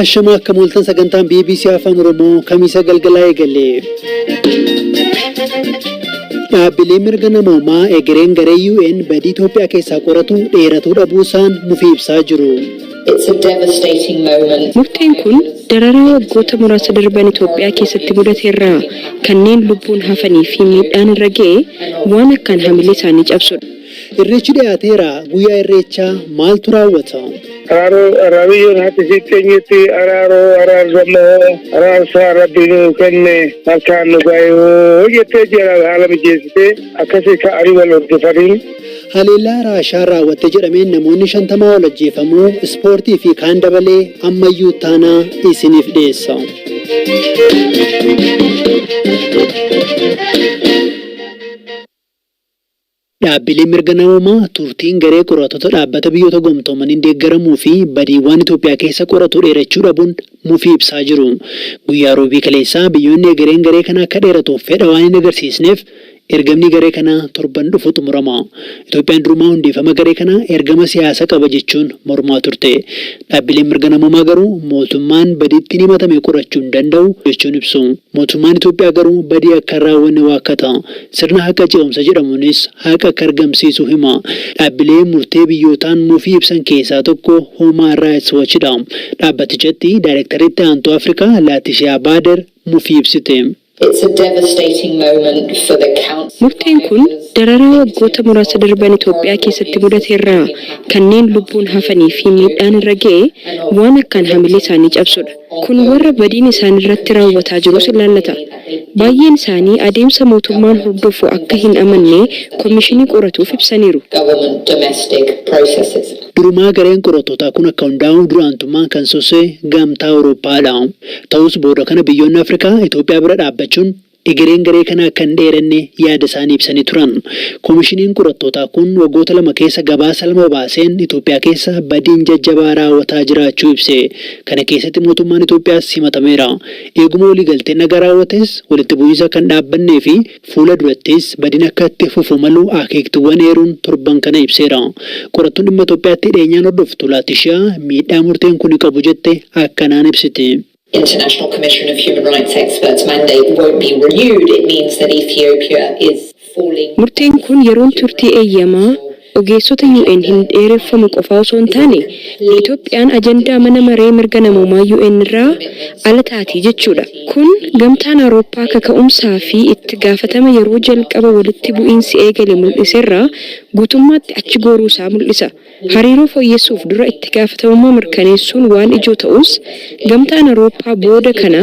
Ashamaa akka mooltan sagantaan BBC Afaan Oromoo kamiisa galgalaa eegale. Dhaabbileen mirga namoomaa egereen garee UN badii Itoophiyaa keessaa qoratu dheeratuu dhabuu isaan mufii ibsaa jiru. It's a devastating moment. Murteen kun dararaa waggoota muraasa darban Itoophiyaa keessatti mudate irraa kanneen lubbuun hafanii fi miidhaan irra ga'e waan akkaan hamilee isaanii cabsudha. Irreechi dhiyaateera, Guyyaa Irreechaa maaltu raawwata? Araaroo Araariyyoon haati isii teenyetti araaroo araarsammoo araarsaa rabbi nuu kenne harkaan nu gaayoo jettee jalaal haala mijeessitee akkasii ka'anii wal hordofanii Haleellaa Raashaan raawwatte jedhameen namoonni 50 ol ajjeefamuu ispoortii fi kaan dabalee ammayyuu ittaanaa isiniif dhiyeessa. Dhaabbileen mirga namoomaa turtiin garee qorattoota dhaabbata biyyoota gomtoomaniin deeggaramuu fi badiiwwaan Itoophiyaa keessa qoratu dheerachuu dhabuun mufii ibsaa jiru. Guyyaa Roobii kaleessaa biyyoonni egereen garee kana akka dheeratuuf fedha waan hin agarsiisneef Ergamni garee kanaa torban dhufu xumurama. Itoophiyaan durumaa hundeeffama garee kanaa ergama siyaasa qaba jechuun mormaa turte. Dhaabbileen mirga namoomaa garuu mootummaan badii ittiin himatame qorachuu hin danda'u jechuun ibsu. Mootummaan Itoophiyaa garuu badii akka hin raawwanne waakkata. Sirna haqa ce'umsa jedhamuunis haqa akka argamsiisu hima. Dhaabbilee murtee biyyootaan mufii ibsan keessaa tokko Huumaan Raayits Wachidha. Dhaabbatichatti Daayrektarri Itti Aantuu Afrikaa Laatishiyaa Baader mufii ibsite. It's a devastating moment for the Counts Murteen kun dararaa waggoota muraasa darban Itoophiyaa keessatti mudate irraa kanneen lubbuun hafanii fi miidhaan irra ga'e waan akkaan hamilee isaanii cabsudha. Kun warra badiin isaan irratti raawwataa jirus ilaallata. Baay'een isaanii adeemsa mootummaan hordofu akka hin amanne komishinii qoratuuf ibsaniiru. government domestic processes. Durumaa gareen qorattootaa kun akka hundaa'u dura aantummaan kan sosse Gamtaa Awurooppaa dha. Ta'us booda kana biyyoonni Afrikaa Itoophiyaa bira dhaabbachuun egereen garee kanaa akka hin dheeranne yaada isaanii ibsanii turan. Komishiniin qorattootaa kun waggoota lama keessa gabaasa lama baaseen Itoophiyaa keessa badiin jajjabaa raawwataa jiraachuu ibse. Kana keessatti mootummaan Itoophiyaas himatameera. Eeguma waliigalteen nagaa raawwates walitti bu'iinsa akka hin dhaabbannee fi Fuula durattis badiin akka itti fufu malu akeektuuwwan eeruun torban kana ibseera. Qorattuun dhimma Itoophiyaatti dhiyeenyaan hordoftu Laatishiyaa miidhaa murteen kuni qabu jette akkanaan ibsiti. International Commission of Human Rights Experts mandate won't be renewed, it means that Ethiopia is falling. Murteen kun yeroon turtii eeyyamaa ogeessota UN hin dheereffamu qofaa osoo hin taane, Itoophiyaan ajandaa Mana Maree Mirga Namoomaa UN irraa ala taati jechuudha. Kun Gamtaan Awurooppaa kaka'umsaa fi itti gaafatama yeroo jalqaba walitti bu'iinsi eegale mul'iserraa guutummaatti achi gooruu isaa mul'isa. Hariiroo fooyyessuuf dura itti gaafatamummaa mirkaneessuun waan ijoo ta'us, Gamtaan Awurooppaa booda kana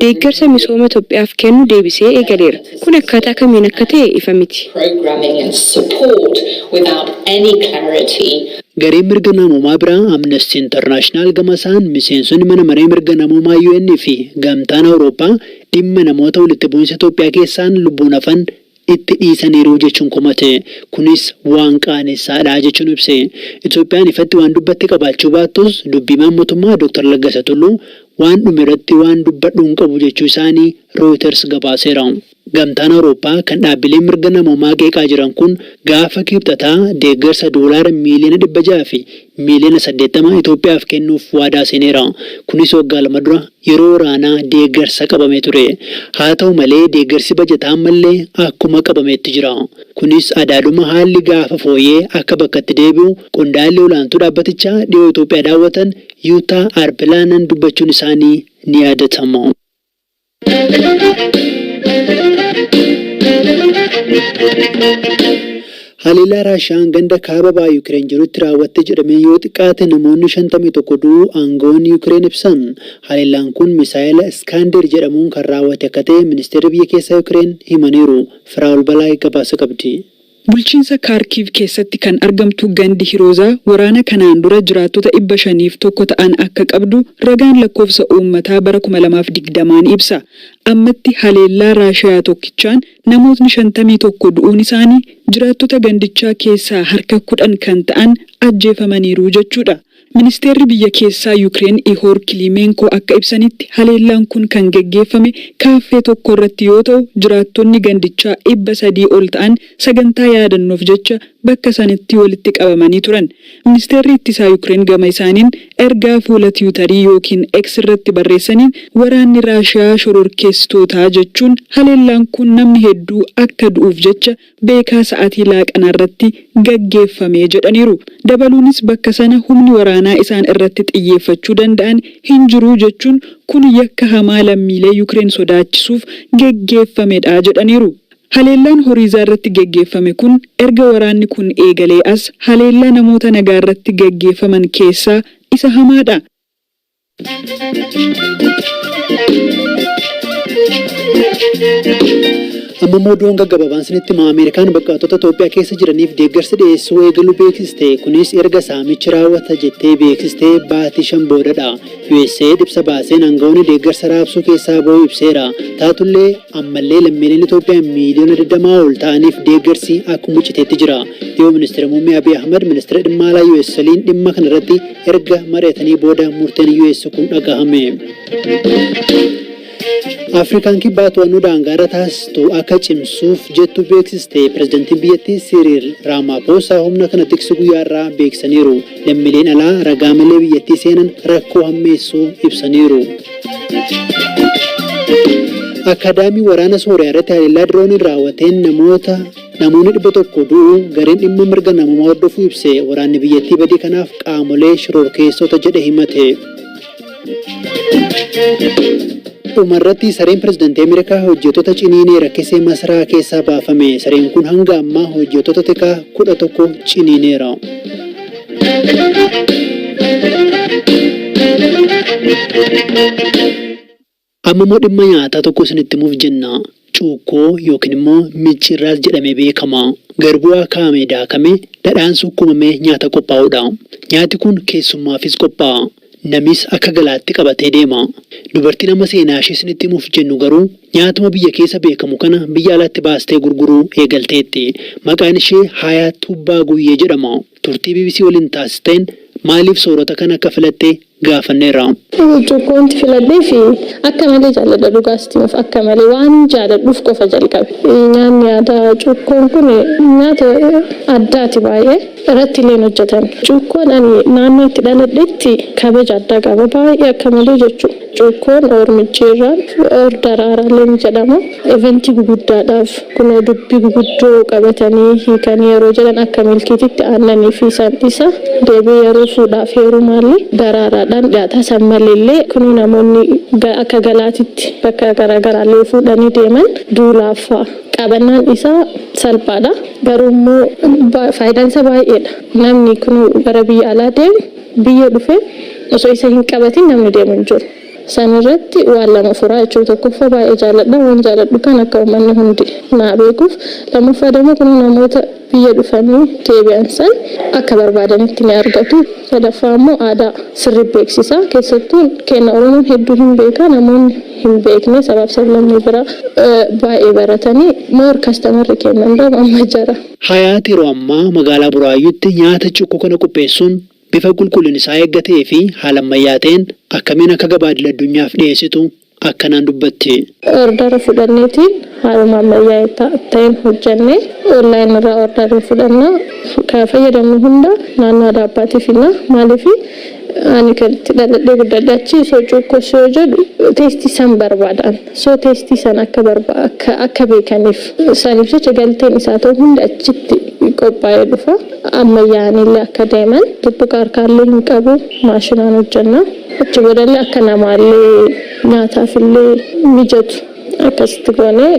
deeggarsa misooma Itoophiyaaf kennu deebisee eegaleera. Kun akkaataa kamiin akka ta'e ifa miti. Gareen mirga namoomaa biraa Amnesty International gamasaan miseensonni Mana Maree Mirga Namoomaa UN fi Gamtaan Awurooppaa dhimma namoota walitti bu'insa Itoophiyaa keessaan lubbuun hafan itti dhiisaniiru jechuun komate. Kunis waan qaanessaadha jechuun ibse. Itoophiyaan ifatti waan dubbatte qabaachuu baattus dubbi himaan motummaa Dr. Laggasa Tulluu waan dhumerratti waan dubbadhu hin qabu jechuu isaanii Rooyiters gabaaseera. Gamtaan Awurooppaa kan dhaabbileen mirga namoomaa qeeqaa jiran kun gaafa Kiibxataa deeggarsa doolaara miiliyoona 600 fi miiliyoona 80 Itoophiyaaf kennuuf waadaa seeneera. Kunis waggaa lama dura yeroo waraanaa deeggarsa qabamee ture. Haata'u malee deeggarsi bajataa ammallee akkuma qabameetti jira. Kunis adaaduma haalli gaafa fooya'e akka bakkatti deebi'u qondaalli olaantuu dhaabbatichaa dhiyoo Itoophiyaa daawwatan Yutaa Arpilaanan dubbachuun isaanii ni yaadatama. Haleellaa Raashiyaan ganda kaaba baha Yukireen jirutti raawwatte jedhameen yoo xiqqaate namoonni 51 du'uu aanga'oonni Yukireen ibsan. Haleellaan kun misaa'ela Iskaandeer jedhamuun kan raawwate akka ta'e ministeerri biyya keessaa Yukireen himaniiru. Firaa'ol Balaay gabaasa qabdi. Bulchiinsa Kaarkiiv keessatti kan argamtu gandi Hiroozaa waraana kanaan dura jiraattota dhibba shaniif tokko ta'an akka qabdu ragaan lakkoofsa uummataa bara kuma lamaa fi digdama ni ibsa. Ammatti haleellaa Raashiyaa tokkichaan namootni shantamii tokko du'uun isaanii jiraattota gandichaa keessaa harka kudhan kan ta'an ajjeefamaniiru jechuudha. Ministeerri biyya keessaa Yukireen Ihoor Kiliimeenkoo akka ibsanitti, haleellaan kun kan geggeeffame kaaffee tokko irratti yoo ta'u, jiraattonni gandichaa dhibba sadii ol ta'an sagantaa yaadannoof jecha bakka sanatti walitti qabamanii turan. Ministeerri Ittisaa Yukireen gama isaaniin ergaa fuula Tiwutarii ykn X irratti barreessaniin, waraanni Raashiyaa shororkeessitootaa jechuun haleellaan kun namni hedduu akka du'uuf jecha beekaa sa'atii laaqanaa irratti gaggeeffame jedhaniiru. Dabaluunis bakka sana humni waraanaa isaan irratti xiyyeeffachuu danda'an hin jiru jechuun kun yakka hamaa lammiilee Yukireen sodaachisuuf geggeeffamedha jedhaniiru. Haleellaan Horiizaa irratti geggeeffame kun erga waraanni kun eegalee as haleellaa namoota nagaa irratti gaggeeffaman keessaa isa hamaadha. Amma immoo oduun gaggababaan sinitti hima Ameerikaan buqqaatota Itoophiyaa keessa jiraniif deeggarsa dhiyeessuu eegaluu beeksiste. Kunis erga saamichi raawwata jettee beeksiste baatii shan boodadha. USAID ibsa baaseen aangawoonni deeggarsa raabsuu keessaa ba'uu ibseera. Taatullee Ammallee lammiileen Itoophiyaa miiliyoona 20 ol ta'aniif deeggarsi akkuma citeetti jira. Dhiyoo Ministira Muummee Abiy Ahmad Ministira Dhimma Alaa US waliin dhimma kana irratti erga mari'atanii booda murteen US kun dhagahame. Afrikaan Kibbaa to'annoo daangaarra taasistu akka cimsuuf jettu beeksiste pirezidantiin biyyattii Siriil Raamaaposaa humna kana tiksu guyyaarraa beeksisaniiru. Lammileen alaa ragaa malee biyyattii seenan rakkoo hammeessuu ibsaniiru. Akaadaamii waraana Sooriyaa irratti haleellaa dirooniin raawwateen namoota namoonni 100 du'uu gareen dhimma mirga namoomaa hordofuu ibse waraanni biyyattii badii kanaaf qaamolee shororkeessota jedhe himate. Dhumarratti sareen pirezidantii Ameerikaa hojjettoota ciniinee rakkisee masaraa keessaa baafame. Sareen kun hanga ammaa hojjettoota tikaa 11 ciniineera. Amma immoo dhimma nyaataa tokko isinitti himuuf jenna. Cuukkoo yookiin immoo micciirraas jedhamee beekama. Garbuu akaa'amee daakamee dhadhaan sukkuumamee nyaata qophaa'udha. Nyaati kun keessummaafis qophaa'a. Namis akka galaatti qabatee deema. Dubartiin amma seenaashee isinitti himuuf jennu garuu nyaatuma biyya keessa beekamu kana biyya alatti baastee gurguruu eegalteetti. Maqaan ishee Haayaat Tuubbaa Guyyee jedhama. Turtii bbc waliin taasisteen maaliif soorata kana akka filatte gaafanneerra. Burcuqqoonti filadhee fi akka malee jaalladha dhugaa sitti himuuf akka malee waanin jaaladhuuf qofa jalqabe. Nyaanni aadaa cuukkoon kun nyaata addaati baay'ee. Irratti illee hin hojjetan. Cuukkoon ani naannoo itti dhaladhetti kabaja addaa qaba baay'ee akka malee jechuu. Cuukkoon or micciirraan or daraaraallee ni jedhama. Event guguddaadhaaf kunoo dubbi guguddoo qabatanii hiikanii yeroo jedhan akka milkiititti aannanii fi san isa deebi'ee yeroo fuudhaaf heerumaallee daraaraadhaan dhiyaata. San maleellee kunoo namoonni akka galaatitti bakka garaagaraallee yoo fuudhanii deeman duulaaf fa'a qabannaan isaa salphaadha. Garuu immoo faayidaan isaa baay'eedha. Namni kunoo gara biyya alaa deemu biyya dhufee osoo isa hin qabatin namni deemu hin jiru. San irratti waan lama furaa jechuudha. Tokkoffaa baay'ee jaaladha. Waan jaaladhu kana akka ummanni hundi naa beekuuf. Lammaffaa demo kunoo namoota biyya dhufanii deebi'an san akka barbaadanitti ni argatu. Sadaffaa ammoo aadaa sirrii beeksisa. Keessattuu keenna Oromoon hedduu hin beeka. Namoonni hin beekne sabaaf sablammii biraa baay'ee baratanii more kastamarri keenna hundaafu amma jara. Hayaat yeroo ammaa magaalaa Buraayyuutti nyaata cukkoo kana qopheessuun Bifa qulqullin isaa eegga ta'ee fi haala ammayyaa ta'een akkamiin akka gabaa idil addunyaaf dhiyeessitu akkanaan dubbatti. Ordara fudhanneetiin haaluma ammayyaa'e ta'een hojjannee online irraa order ni fudhanna. Kan fayyadamnu hunda naannoo Adaabbaatii fidna. Maaliif ani kan itti dhaladhee guddadhe achi, so cuukkos yoo jedhu taste san barbaada ani. so test san akka barba akka akka beekaniif saniif jecha galteen isaa ta'u hundi achitti qophaa'ee dhufa ammayyaa'aniillee akka deeman tuttuqaa harkaallee hin qabu maashinaan hojjanna achi boodallee akka namaallee nyaataafillee mijatu akkasitti goonee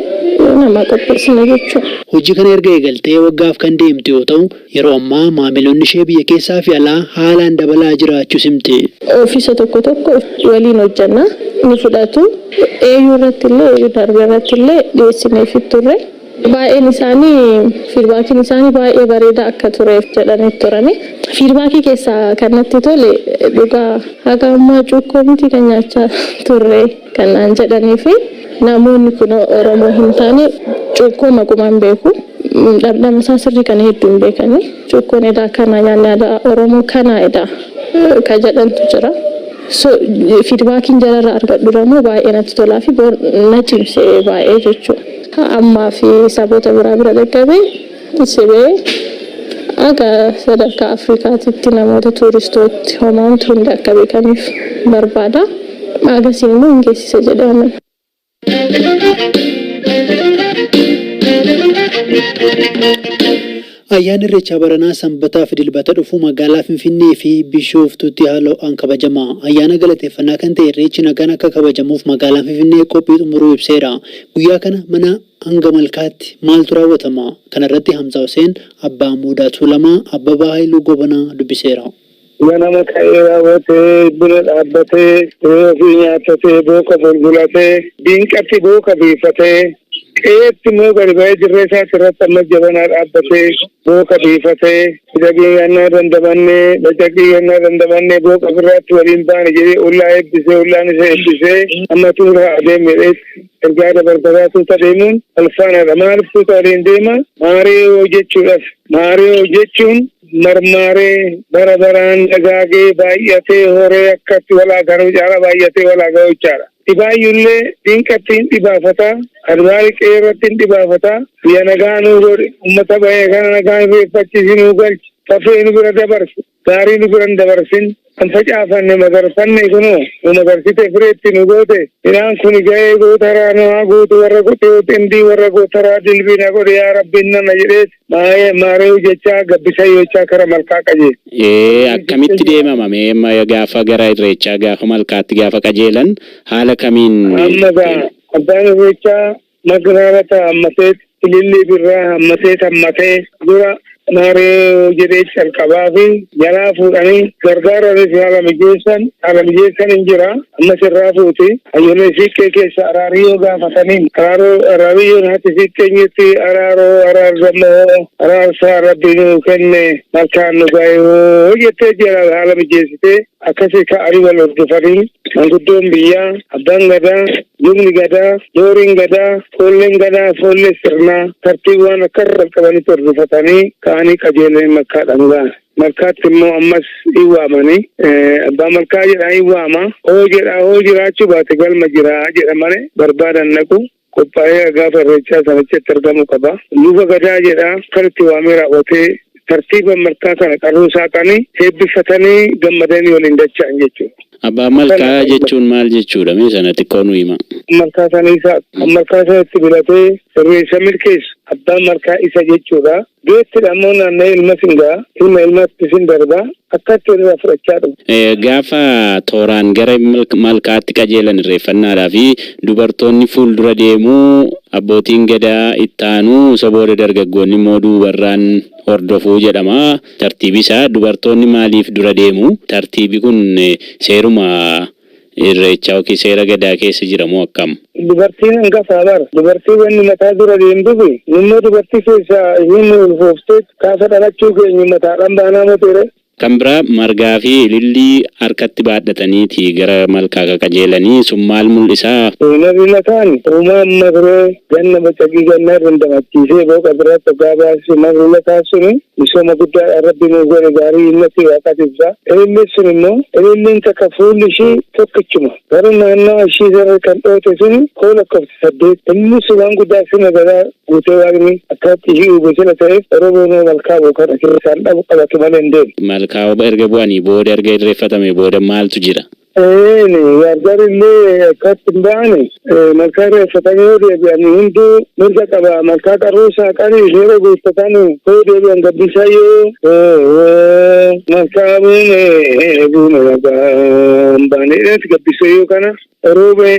namaa qopheessina jechuu. Hojii kana erga eegaltee waggaaf kan deemtu yoo ta'u, Yeroo ammaa maamiloonni ishee biyya keessaa fi alaa haalaan dabalaa jiraachuus himti. Ofiisa tokko tokko waliin hojjenna. Ni fudhatu. AU irratti illee, AU darbe irratti illee dhiyeessineefii turre. Baay'een isaanii fiidbaakiin isaanii baay'ee bareedaa akka ture jedhanii turani. Fiidbaakii keessaa kan natti tole dhugaa haga ammaa cuukkoo miti kan nyaachaa turre kan naan jedhanii fi namoonni kunoo Oromoo hin taane cuukkoo maqumaan beeku. Dhamdhamasaa sirrii kana hedduu hin beekani. Cukkoon edaa kanaa nyaanni aadaa Oromoo kanaa edaa ka jedhantu jira. So feedbackiin jararraa argadhuramoo baay'ee natti tolaafi bor na cimse baay'ee jechuu. Ka ammaafi saboota biraa bira dhaqqabe sibee akka sadarkaa Afrikaatitti namoota tuuristootti homaamtu hundi akka beekaniif barbaada. Agasiin immoo hin geessisa jedhee amana. Ayyaanni Irreechaa baranaa Sanbataa fi Dilbata dhufu magaalaa Finfinnee fi Bishooftuutti haala ho'aan kabajama. Ayyaana galateeffannaa kan ta'e Irreechi nagaan akka kabajamuuf magaalaan Finfinnee qophii xumuruu ibseera. Guyyaa kana manaa hanga malkaatti maaltu raawwatama? Kanarratti Hamzaa Huseen, Abbaa Muudaa Tuulamaa, Abbabaa Hayiluu Gobanaa dubbiseera. Ganama ka'ee raawwatee, buna dhaabbatee, re'ee ofii nyaattatee, booqa bulbulatee, diinqatti booqa biifatee, qe'eetti immoo gadi ba'ee dirree isaati irratti ammas jabanaa dhaabbatee, booqa biifatee, Cidhaqii gannaa dandamannee, bacaqii gannaa dandamannee, booqa birraatti waliin baane jedhee ollaa eebbisee, ollaan isa eebbisee, amma tuuta adeemi jedheetti ergaa dabarfataa tuuta deemuun walfaanaadha. Maaliif tuuta waliin deema? Maariyoo jechuudhaaf. Maariyoo jechuun marmaaree bara baraan dagaagee baay'atee horee akkatti walaa garuu caala baay'atee walaa ga'uu caala. Dhibaayyullee diinqatti hin dhibaafata, adbaari qe'ee irratti hin dhibaafata, biyya nagaa nuu godhi, uummata ba'ee kana nagaa hin reeffachiisi nuu galchi, fafee nu bira dabarsi, gaarii nu bira hin dabarsin, Kan facaafanne magarfanne kunoo nu magarsite fireetti nu goote midhaan kuni ga'ee gootaraa nu haa guutu warra kutee xindii warra gootaraa dilbii na godhe yaa rabbiin nana jedheet maayee maareeyu jechaa gabbisa yoochaa kara malkaa qajeele. Ee akkamitti deemama mee amma gaafa gara irreechaa gaafa malkaatti gaafa qajeelan haala kamiin Amma gaa deema? abbaan irreechaa Magiraarata hammateet ilillii birraa hammateet hammatee dura maaree jedhee calqabaa fi jalaa fuudhanii gargaaranis haala mijeessan haala mijeessan hin jira ammas irraa fuuti hayyolee siiqqee keessa araarii yoo gaafataniin araaroo araariyyoon hati siiqqee jirti araaroo araar dammoo araarsaa rabbi nuu kenne malkaan nu gaayoo jettee jala haala mijeessitee Akkasii ka'anii wal hordofanii manguddoon biyyaa, abbaan gadaa, lubni gadaa, dooriin gadaa, foolleen gadaa, foollee sirnaa tartiibaan akka irra qaqqabanitti hordofatanii ka'anii qajeelanii malkaadhaan ga'an. Malkaatti immoo ammas in waamanii abbaa malkaa jedhaa in waama. Hoo jedhaa hoo jiraachuu baate galma jiraa jedha malee barbaadan dhaqu. qophaa'ee gaafa irreechaa sana achitti argamuu qaba. Luba Gadaa jedha kan itti waamee raawwatee tartiiban malkaa kana qarruu saaqanii eebbifatanii gammadanii waliin dacha'an jechuudha. Abbaa Malkaa jechuun maal jechuudha mee sana xiqqoo nu himaa. Malkaa sana isa kan malkaa sana itti bilatee irreessa milkeessu abbaa malkaa isa jechuudha. Deetti dha immoo naanna'ee ilmas in ga'a, ilma ilmaattis in darba, akka itti irraa fudhachaa dhufu. Gaafa tooraan gara malkaatti qajeelan irreeffannaadhaa fi dubartoonni fuuldura deemu, abbootiin Gadaa itti aanu, isa booda dargaggoonni immoo duubarraan hordofu jedhama. Tartiibi isaa dubartoonni maaliif dura deemu? Tartiibi kun seeruma. Irreechaa ykn seera gadaa keessa jira moo akkam? Dubartiin angafaa bar. Dubartii wanni mataa dura deemtufi nummoo dubartii keessaa isiin nu ulfoofteet kaafa dhalachuu keenyu mataadhaan baanaa moti ree? Kan biraa margaa fi ilillii harkatti baadhataniiti gara malkaa ka qajeelanii sun maal mul'isaa? Nabi mataan uumaa ammas ree? Ganna bacaqii gannaa dandamachiisee booqa biraatti oggaa baasisu maal lolataa suni? Misooma guddaadha Rabbi nuu godhe gaarii innati waaqaati ibsa. Ililliin sun immoo ililliin takka fuulli ishii tokkichuma. Garuu naannawa ishii irra kan dhooyte suni koo lakkofte saddeet. Ililliin sun waan guddaa fi magaalaa guutee waaqni akkanatti ishii uube sila ta'eef Oromoon hoo malkaa bu'u kana keessaan dhabu qabatu malee hin deemu. Malkaa erga bu'anii booda erga irreeffatamee booda maaltu jira? Eeyyeen wardarillee akkatti hin baane malkaa irra eeffatanii yoo deebi'an hunduu mirga qaba malkaa qarruu saaqanii yeroo guuttatan yoo deebi'an gabbisaa yoo malkaa buune buune nagaan baane jedheeti gabbisee yoo kana rooba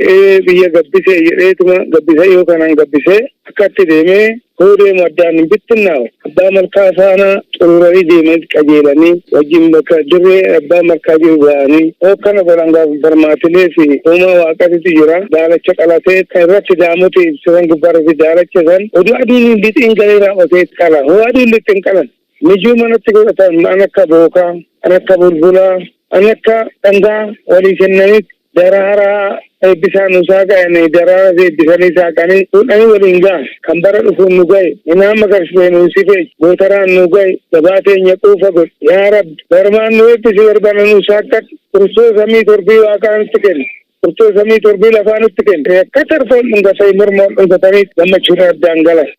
biyya gabbisee jedheetuma gabbisee yoo kanaan gabbisee akkatti deemee Hoo deemu addaan hin bittinnaawe. Abbaa Malkaa faana xuruuranii deemanitti qajeelanii wajjin bakka dirree Abbaa Malkaa jiru ga'anii hookkana godhan gaafa barmaatilee fi uumaa waaqatitu jira. Daalacha qalatee kan irratti daamoti ibse san gubbaarratti daalacha san oduu aduun hin lixiin galee raawwatee itti qala. Hoo aduun lixxe hin qalan. Mijuu manatti godhatan an akka bookaa, an akka bulbulaa, an akka dhangaa walii kennanitti Daraaraa eebbisaa nu saaqa'ani daraaras eebbisanii saaqanii fuudhanii waliin ga'an kan bara dhufuun nu gahe minaan magarsitee nu sifeeyi gootaraan nu gahe gabaa teenya quufa godhi yaa rabbi barmaan nu eebbisi barbana nu saaqqadhu furtoo samii torbii waaqaa nutti kenni furtoo samii torbii lafaa nutti kenni akka tarfoon dhungatanii mormoon dhungatanii gammachuun addaan galan.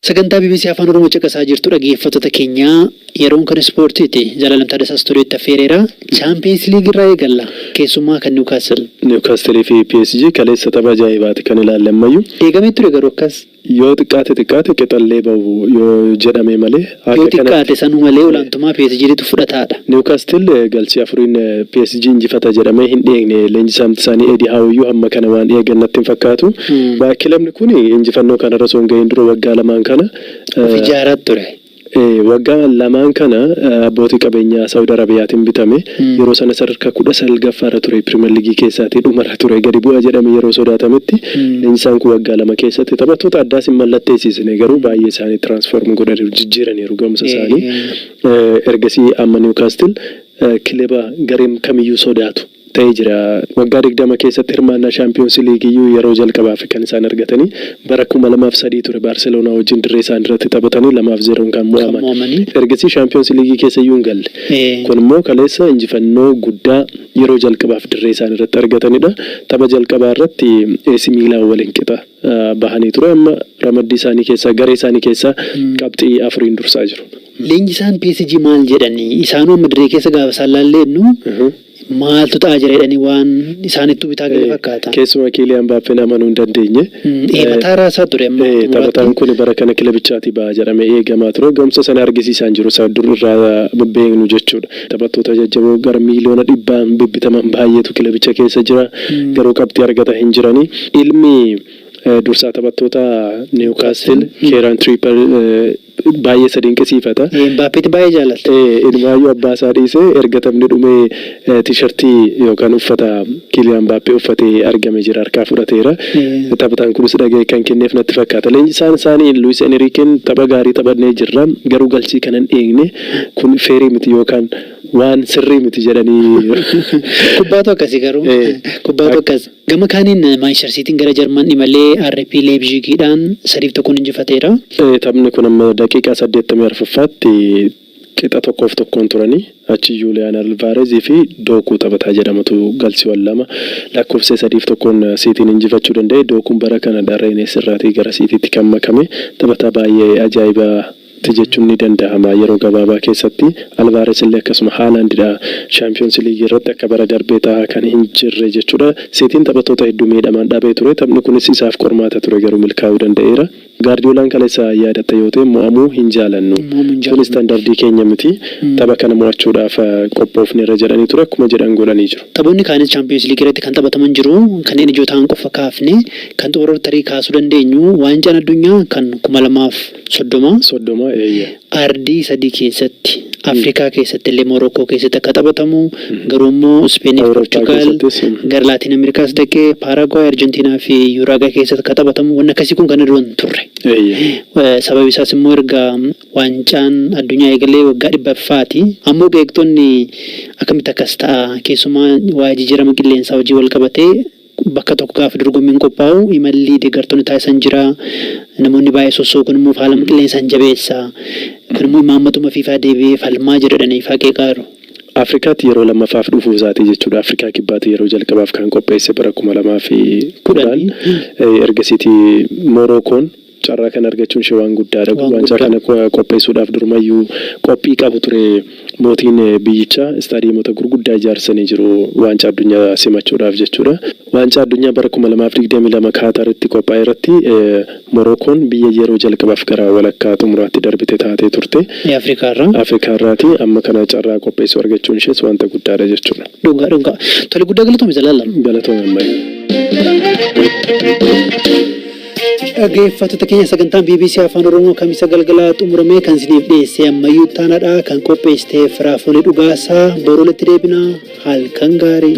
Sagantaa bbc Afaan Oromoo caqasaa jirtu dhaggeeffattoota keenya yeroon kan ispoortiiti. Zalaalam Taaddasaa Istuudiyootti affeereera. Chaampiyeens Liigii irraa eegalla. Keessummaa kan Niwukaastil. Niwukaastilii fi PSG kaleessa tapha ajaa'ibaati kan ilaalle ammayyuu. Eegamee ture garuu akkas. Yoo xiqqaate xiqqaate qixallee bahu yoo jedhame malee akka kanatti. Yoo xiqqaate sanu malee olaantumaa PSGtu fudhataadha. Niwkaastil galchii afuriin PSG injifata jedhamee hin dheegne. Leenjisaamti isaanii Edi Haaw iyyuu hamma kana waan eegan natti hin fakkaatu. Kilabni kun injifannoo kanarra osoo hin gahiin dura waggaa lamaan kana. Of ijaaraat ture. Wagga lamaan kana abbootii qabeenyaa Saudi Arabiyaatin bitame. Yeroo sana sadarkaa 19ffaa irra ture Piriimer Liigii keessaatii dhuma irra ture. Gadi bu'a jedhame yeroo sodaatametti leenjisaan kun waggaa lama keessatti taphattoota addaas hin mallatteessiisne garuu baay'ee isaanii transform godhaniiru, jijjiiraniiru gahumsa isaanii. Ergasii amma Newcastle kileba gareen kamiyyuu sodaatu. ta'ee jira. Waggaa 20 keessatti hirmaannaa Shaampiyoonsi Liigiyyuu yeroo jalqabaaf kan isaan argatanii bara 2003 ture Baarseloonaa wajjin dirree isaaniirratti taphatanii 2 fi 0n kan mo'aman. Ergasii Shaampiyoonsi Liigii keessayyuu hin galle. Kun immoo kaleessa injifannoo guddaa yeroo jalqabaaf dirree isaaniirratti argatanidha. Tapha jalqabaa irratti AC Miilaan waliin qixa bahanii ture. Amma ramaddii isaanii keessaa garee isaanii keessaa qabxii afuriin dursaa jiru. Leenjisaan PSG maal jedhani? Isaanuu amma dirree keessa gaafa isaan laallee jennu maaltu ta'aa jira jedhanii waan isaanittuu bitaa gale fakkaata. Keessumaa Kiiliyaan Mbaappeen amanuu hin dandeenye. Ee mataa raasaa ture amma Ee, taphataan kun bara kana kilabichaatii ba'a jedhamee eegamaa ture. Ga'umsa sana argisiisaa hin jiru. Isa dur irraa beeknu jechuudha. Taphattoota jajjaboo gara miiliyoona dhibbaan bibbitaman baay'eetu kilabicha keessa jira. Garuu qabxii argata hin jirani. Ilmi eh, dursaa taphattoota Niwukaastil Keeraan Tiriipper baay'ee isa dinqisiifata. Mbaappeetti baay'ee jaalalta. Ee, inumaayyuu abbaa isaa dhiisee erga taphni dhumee tiishartii yookaan uffata Kiiliyaan Mbaappee uffatee argame jira harkaa fudhateera. Taphataan kunis dhaga'ee kan kenneef natti fakkaata. Leenjisaan isaanii Luwis Eniriikeen tapha gaarii taphannee jirra, garuu galchii kana hin eegne, kun feerii miti yookaan waan sirrii miti jedhanii. Kubbaatu akkasi garuu. Ee. Kubbaatu akkas. Gama kaaniin Maanchistar Siitiin gara Jarman imalee RB Leeyipzigiidhaan sadiif tokkoon injifateera. Taphni kun amma daqiiqaa saddeettamii arfaffaatti qixa tokkoof tokkoon turanii achi Juuliyaan Alvaarez fi Dookuu taphataa jedhamutu galchiiwwan lama lakkoofsisee sadiif tokkoon Siitiin injifachuu danda'e. Dookuun bara kanadha Reenees irraatii gara Siitiitti kan makame. Taphataa baay'ee ajaa'iba. ti jechuun ni danda'ama. Yeroo gabaabaa keessatti Alvaares illee akkasuma Haalaand dha. Shaampiyoonsi Liigii irratti akka bara darbee tahaa kan hin jirre jechuu dha. Siitiin taphattoota hedduu miidhamaan dhabee ture. Taphni kunis isaaf qormaata ture garuu milkaa'uu danda'eera. Gaardiyoolaan kaleessa yaadatta yoo ta'e mo'amuu hin jaalannu. Kun istandardii keenya miti. Tapha kana mo'achuudhaaf qophoofneerra jedhanii ture. Akkuma jedhan godhanii jiru. Taphoonni kaanis Chaampiyoonsi Liigii irratti kan taphataman jiru. Kanneen ijoo tahan qofa kaafne. Kan xumurarratti tarii kaasuu dandeenyu Waancaan Addunyaa kan 2000 fi 30, soddoma, eeyye. Ardii sadii keessatti, Afrikaa keessatti illee Morookoo keessatti akka taphatamu, garuu immoo Ispeenii fi Awurooppaa Porchugaal, keessattis, mm. gara Laatiin Ameerikaas dhaqee Paaraaguwaay, Arjentiinaa fi Yuuraagaay keessatti akka taphatamu wanni akkasii kun kana dura hin turre. Eeyye. Eh, Sababi isaas immoo erga waancaan addunyaa eegalee waggaa dhibbaffaati. Ammoo qeeqxonni akkamitti akkas ta'a keessumaa waa'ee jijjiirama qilleensaa wajjin wal qabatee Bakka tokko gaafa dorgommiin qophaa'u imalli deeggartoonni taasisan jira. Namoonni baay'ee sossookuun immoo faalama qilleensaa hin jabeessa. Kun immoo imaammatuma Fiifaa deebi'ee falmaa jira jedhanii Ifaa qeeqaaru. Afrikaatti yeroo lammaffaaf dhufuu isaati jechuudha. Afrikaa Kibbaatti yeroo jalqabaaf kan qopheesse bara kuma lamaa fi kudhan. Ergasiiti Morookoon. Carraa kana argachuun ishee waan guddaadha. Waancaa kana qopheessuudhaaf durumayyuu qophii qabu ture. Mootiin biyyichaa istaadiyeemota gurguddaa ijaarsisanii jiru Waancaa Addunyaa simachuudhaaf jechuudha. Waancaa Addunyaa bara 2022 Kaataritti qophaa'erratti Morookoon biyya yeroo jalqabaaf gara walakkaa xumuraatti darbite taatee turte. Afrikaarraati. Amma kana carraa qopheessuu argachuun ishees wanta guddaadha jechuudha. Dhugaa dhugaa. Tole guddaa galatoomi Zalaalam. Galatoomi Ammayee. Dhaggeeffattoota keenya sagantaan BBC Afaan Oromoo kamisa galgalaa xumuramee kan isiniif dhiyeessee ammayyuu taanaadha kan qopheessite Firaafolee Dhugaasaa boru walitti deebina halkan gaarii.